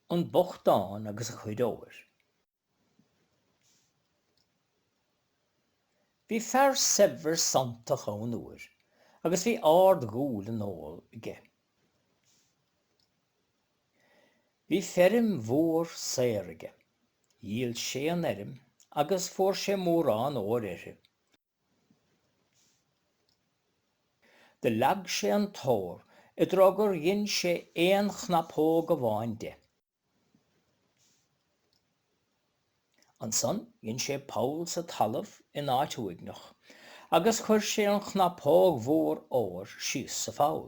An bochtán agus a chuid óir. Bhí fear saibhir sanntach ann uair agus bhí árd dhúil i n-ór aige. Bhí feirm mhór saor aige. Dhíol sé an fheirm agus fuair sé mórán óir uirthi. Do leag sé an t-ór i dtreo gur dhein sé aon chnapóg amháin de. Ansan dhein sé poll sa talamh in áit uaigneach agus chuir sé an chnapóg mhór óir síos sa pholl.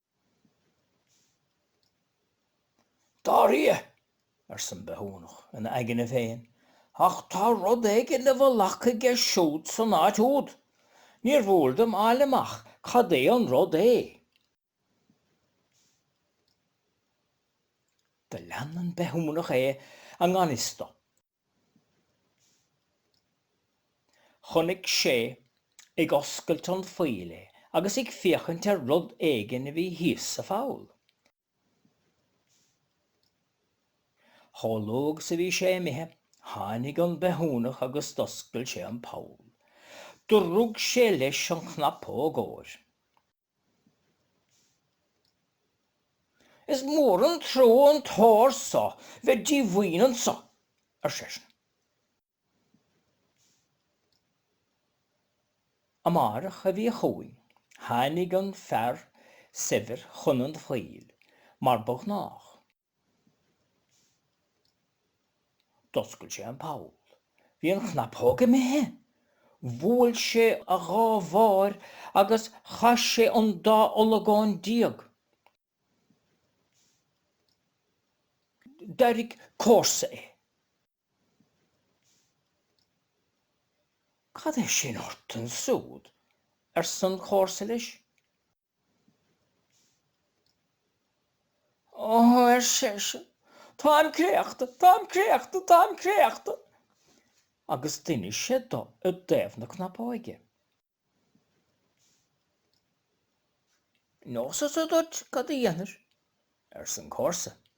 'Dar fia! arsa an bithiúnach, ina aigne féin, 'ach tá rud éigin i bhfolach aige siúd san áit úd. Níor mhór dom fháil amach cad é an rud é. Do lean an bithiúnach é i ngan fhios dó. Chonaic sé ag oscailt an phoill é agus ag féachaint ar rud éigin a bhí thíos sa pholl. Chomh luath agus a bhí sé imithe, tháinig an bithiúnach agus d'oscail sé an poll. Do rug sé leis an chnapóg óir. Is mór an trua an t-ór so bheith díomhaoin anso, ar seisean. Amáireach a bhí chugainn, tháinig an fear saibhir chun an phoill, mar ba ghnách. D'oscail sé an poll. Bhí an chnapóg imithe! Bhuail sé a dhá bhais agus chas sé an dá olagón déag. D'airigh comharsa é. Cad é sin ort ansúd? arsan chomharsa leis. Ó, ar seisean, táim créachta, táim créachta, táim créachta! agus d'inis sé do i dtaobh na cnapóige. Neosadsa duit cad a dhéanfair, arsa an comharsa.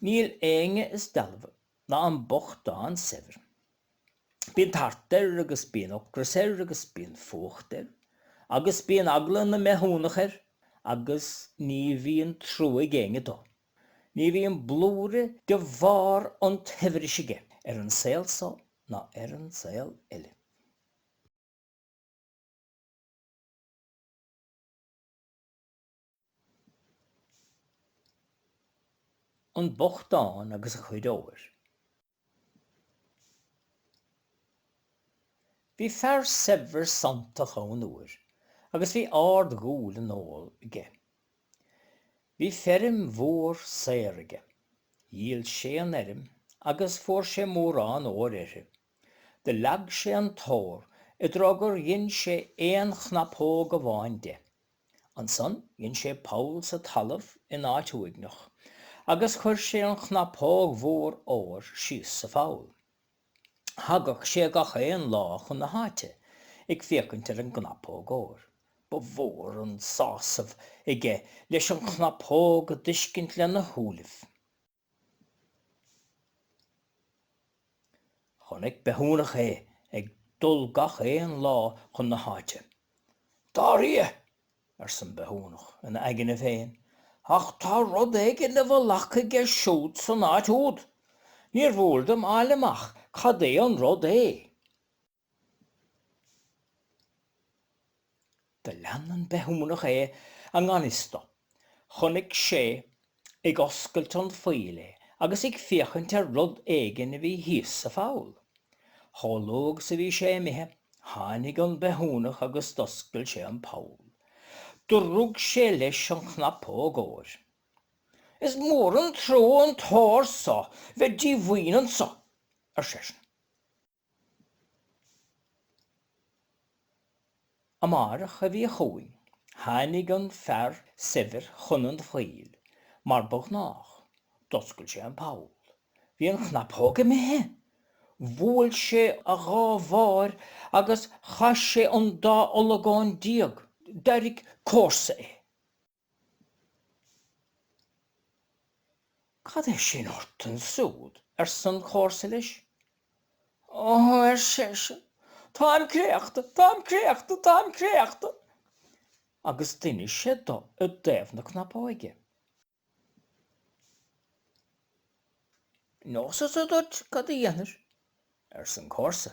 Níl éinne is dealbha ná an bochtán saibhir. Bíonn tart air agus bíonn ocras air agus bíonn fuacht air agus bíonn eagla na mbithiúnach air agus ní bhíonn trua ag éinne dó. Ní bhíonn blúire de bharr an tsaibhris aige ar an saol so ná ar an saol eile. An bochtán agus a chuid óir. Bhí fear saibhir sanntach ann uair agus bhí árd dhúil i n-ór aige. Bhí feirm mhór saor aige. Dhíol sé an fheirm agus fuair sé mórán óir uirthi. Do leag sé an t-ór i dtreo gur dhein sé aon chnapóg amháin de. Ansan dhein sé poll sa talamh in áit uaigneach agus chuir sé an chnapóg mhór óir síos sa pholl. Thagadh sé gach aon lá chun na háite ag féachaint ar an gcnapóg óir. Ba mhór an sásamh aige leis an chnapóg a d'fheiscint lena shúilibh. Chonaic bithiúnach é ag dul gach aon lá chun na háite. Dar fia! arsa an bithiúnach ina aigne féin, ach tá rud éigin i bhfolach aige siúd san áit úd! Níor mhór dom fháil amach cad é an rud é. Do lean an bithiúnach é i ngan fhios dó. Chonaic sé ag oscailt an phoill é agus ag féachaint ar rud éigin a bhí thíos sa pholl. Chomh luath agus a bhí sé imithe, tháinig an bithiúnach agus d'oscail sé an poll. Do rug sé leis an chnapóg óir. Is mór an trua an t-ór so bheith díomhaoin anso! ar seisean. Amárach a bhí chugainn. Tháinig an fear saibhir chun an phoill, mar ba ghnách. D'oscail sé an poll. Bhí an chnapóg imithe! Bhuail sé a dhá bhais agus chas sé an dá olagón déag. D'airigh comharsa é. 'Cad é sin ort ansúd? arsa an comharsa leis. 'Ó' ar seisean, 'táim créachta, táim créachta, táim créachta! agus d'inis sé do i dtaobh na cnapóige. 'Neosadsa duit cad a dhéanfair? arsa an comharsa.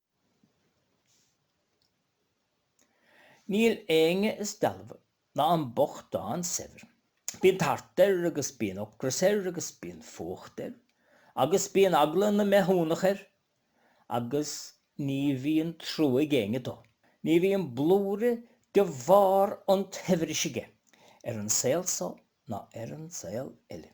Níl éinne is dealbha ná an bochtán saibhir. Bíonn tart air agus bíonn ocras air agus bíonn fuacht air agus bíonn eagla na mbithiúnach air agus ní bhíonn trua ag éinne dó. Ní bhíonn blúire de bharr an tsaibhris aige ar an saol so ná ar an saol eile.